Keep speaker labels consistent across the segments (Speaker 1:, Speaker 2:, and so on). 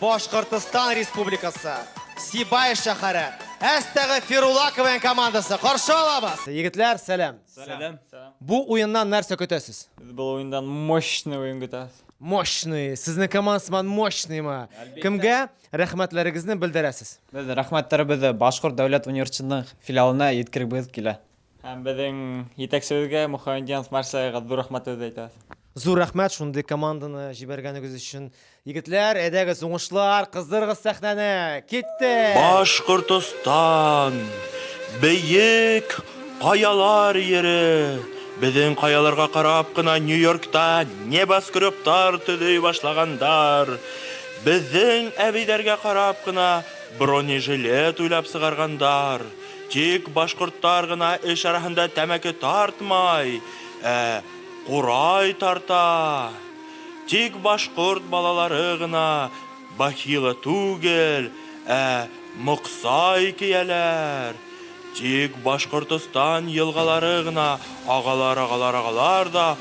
Speaker 1: Башкортостан Республикасы, Сибай шәһәре, Әстәгы Фирулакованың командасы. Каршы алабыз. Егетләр, сәлам. Сәлам.
Speaker 2: Бу уеннан
Speaker 1: нәрсә көтәсез? Без бу уеннан
Speaker 2: мощный уен көтәбез. Мощный.
Speaker 1: Сезнең командасыман мощныймы? Кемгә рәхмәтләрегезне белдерәсез? Без рәхмәтләребезне
Speaker 2: Башкорт дәүләт университетының филиалына җиткеребез килә. Һәм безнең җитәкчебезгә Мухаммед Янс Марсега зур рәхмәтебезне әйтәбез. Зур рәхмәт шундый
Speaker 1: команданы җибәргәнегез өчен. Егетләр, әйдәгез, уңышлар, кыздырыгыз сәхнәне! Киттек! Башкортостан,
Speaker 3: бөек каялар йире, безнең каяларга карап кына Нью-Йоркта небоскребтар төзи башлагандар, безнең әбиләргә карап кына бронежилет уйлап сыгаргандар, Тик башкортлар гына эш арасында тәмәке тартмай, ә курай тарта. Тик башкорт балалары гына бахила түгел, ә моксай кияләр. Тик Башкортостан елгалары гына агалар-агалар-агалар да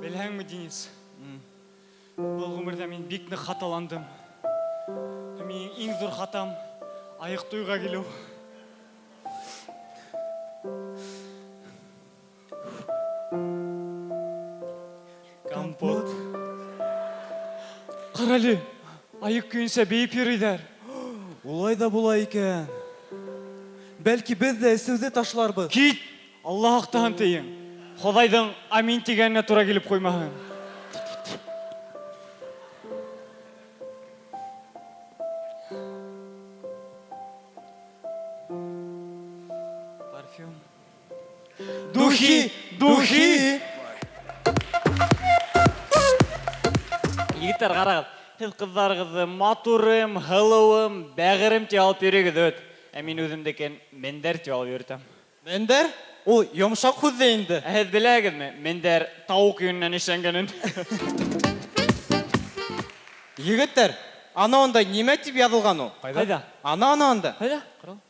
Speaker 4: Беләңме, Денис? Бу гомердә мин бик нык хаталандым. Минем иң зур хатам аек туйга килү. Компот. Карале, аек көенчә биеп йөриләр. Улай да
Speaker 5: була икән. Бәлки без дә эсүде ташларбыз. Кит! Алла
Speaker 4: актан тиең. Ходайдың амин дигәненә туры килеп куймаһын. Духи! Духи! Егетләр, карагыз, сез кызларыгызны матурым, һылуым, бәгырем дип алып йөрегез, үт. Ә мин үземнекен Мендәр дип алып йөртәм. Мендәр?
Speaker 5: Ул йомшак һүз дә инде. Ә сез беләгезме,
Speaker 4: Мендәр тавык йоныннан эшләнгәнен?
Speaker 5: Егетләр, аны анда нимә дип язылган ул? Кайда? Аны, аны
Speaker 4: анда. Кайда?
Speaker 5: Карагыз.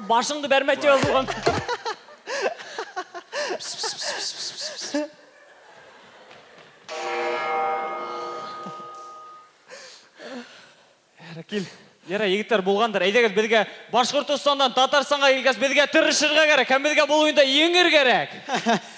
Speaker 4: Башыңды бәрмә дип язылган. Ярар, кил. Ярар, егетләр булгандыр. Әйдәгез безгә Башкортостаннан Татарстанга килгәч, безгә тырышырга кирәк һәм безгә бу уенда еңер кирәк.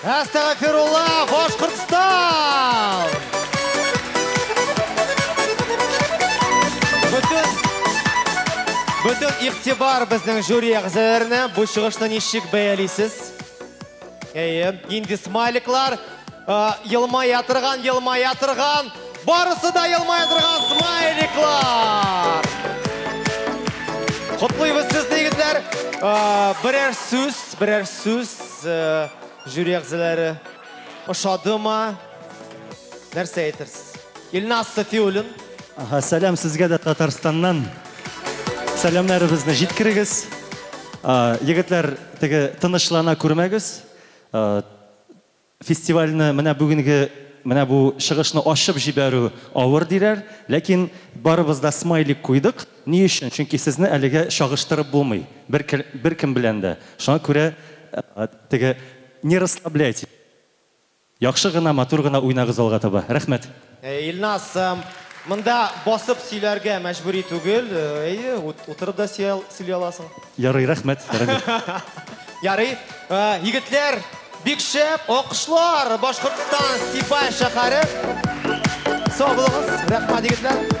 Speaker 1: Әстәгәфирулла, Башкортстан! Бөтен Бөтен игътибар безнең жюри әгъзаларына. Бу чыгышны ничек бәялисез? Әйе, инде смайликлар елмая торган, елмая торган. Барысы да елмая торган смайликлар. Котлыйбыз сезне, егетләр. Берәр сүз, берәр сүз. Сез жюри әгъзалары ошадымы? Нәрсә әйтерсез? Илназ Сафиуллин. Аха, сәлам
Speaker 6: сезгә дә Татарстаннан. Сәламнәребезне җиткерегез. Егетләр, теге тынычлана күрмәгез. Фестивальне менә бүгенге менә бу чыгышны ачып җибәрү авыр диләр, ләкин барыбыз да смайлик куйдык. Ни өчен? Чөнки сезне әлегә чагыштырып булмый бер беркем белән дә. Шуңа күрә теге не расслабляйтесь. Яхшы гына, матур гына уйнагыз алга таба. Рәхмәт. Әйе, Илназ,
Speaker 1: монда басып сөйләргә мәҗбүри түгел. Әйе, утырып да сөйли аласың. Ярый, рәхмәт,
Speaker 6: Рамил.
Speaker 1: Ярый, егетләр, бик шәп, алкышлар, Башкортстан, Степай шәһәре. Сау булыгыз, рәхмәт, егетләр.